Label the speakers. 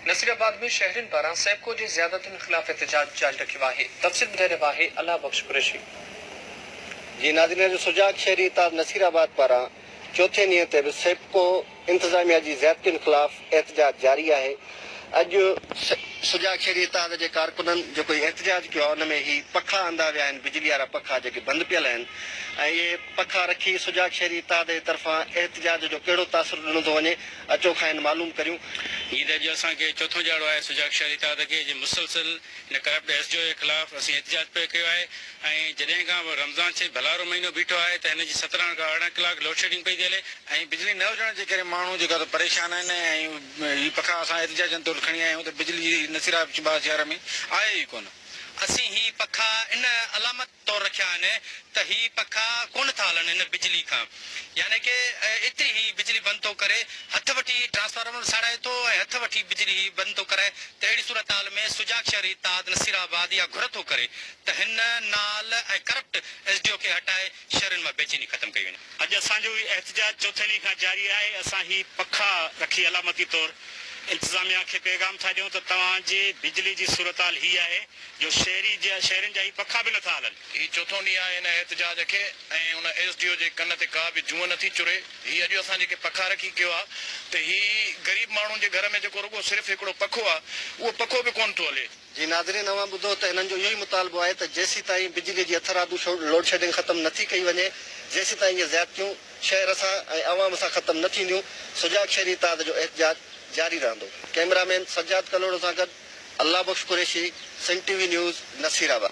Speaker 1: نصير آباد ۾ شهرين پاران سيپڪو جي زيادتين خلاف احتجاج جاري رکيو آهي تفصيل ٻڌائي رهيو آهي الله بخش قريشي.
Speaker 2: جي ناظرين جو سجاڳ شهري اتحاد نصير آباد پاران چوٿين ڏينهن تي به سيپڪو انتظاميا جي زيادتين خلاف احتجاج جاري آهي اڄ سجاڳ شهري اتحاد جي ڪارڪنن جيڪو هي احتجاج ڪيو آهي ان ۾ هي پکا اندا ويا آهن بجلي وارا پکا جيڪي بند پيل آهن ۽ اهي پکا رکي سجاڳ شهري اتحاد جي طرفان احتجاج جو ڪهڙو تاثر ڏنو ٿو وڃي اچو کانئن معلوم ڪريون. جي ته اڄ اسان
Speaker 3: کي چوٿون ڄاڙو آهي سجاڳ شهري تحت کي جي مسلسل هن ڪرپٽ ايس جي او جي خلاف اسين احتجاج پئي ڪيو آهي ۽ جڏهن کان به رمضان شريف ڀلارو مهينو بيٺو آهي ته هن جي سترهن کان ارڙهن ڪلاڪ لوڊ شيڊنگ پئي ٿي هلي ۽ بجلي نه هجڻ جي ڪري ماڻهو جيڪا ته پريشان آهن ۽ هي پکا اسان احتجاجن طور کڻي آيا آهيون ته بجلي جي نصيرا چباس شهر ۾ آهي ئي ڪونه اسين هي پکا ان علامت. طور رکيا آهن ته هي پکا ڪونه ٿا هلن ان بجلي کان يعني ڪه ايتري هي بجلي بند ٿو ڪري هٿ وٺي ٽرانسفارمر ساڙائي ٿو ۽ هٿ وٺي بجلي هي بند ٿو ڪرائي ته اهڙي صورتحال ۾ سجاڳ شهري اتحاد نصير آباد اها گهر ٿو ڪري ته هن نال ۽ ڪرپٽ ايس ڊي او کي هٽائي شهرين مان بيچيني ختم ڪئي وڃي. اڄ اسان جو هي احتجاج
Speaker 4: چوٿين ڏينهن کان جاري آهي اسان هي پکا رکي علامتي طور انتظاميا کي پيغام ٿا ڏيون ته توهان جي بجلي جي صورتحال هي آهي جو شهري جيان شهرين جا هي پکا به نٿا هلن. هي چوٿون ڏينهن
Speaker 5: آهي هن احتجاج کي ۽ ان ايس ڊي او جي ڪن تي ڪا به جونء نٿي چري. هي اڄ اسان جيڪي پکا رکي ڪيو آ ته هي غريب ماڻهن جي گهر ۾ جيڪو رڳو صرف هڪڙو پکو آ اهو پکو به ڪونه ٿو هلي. جي ناظرين اوهان ٻڌو
Speaker 2: ته هنن جو اهو ئي مطالبو آهي ته جيسيتائين بجلي جي اٿر آبي لوڊشيڊنگ ختم نٿي ڪئي وڃي جيسيتائين اهي زيادتيون شهر سان ۽ عوام سان ختم نه ٿينديون. سجاڳ شهري اتحاد جو احتجاج جاري رهندو. ڪئميرا مين سجاد ڪلهوڙو سان گڏ Allah Bakhsh Qureshi, Sindh T V news, Nasirabad.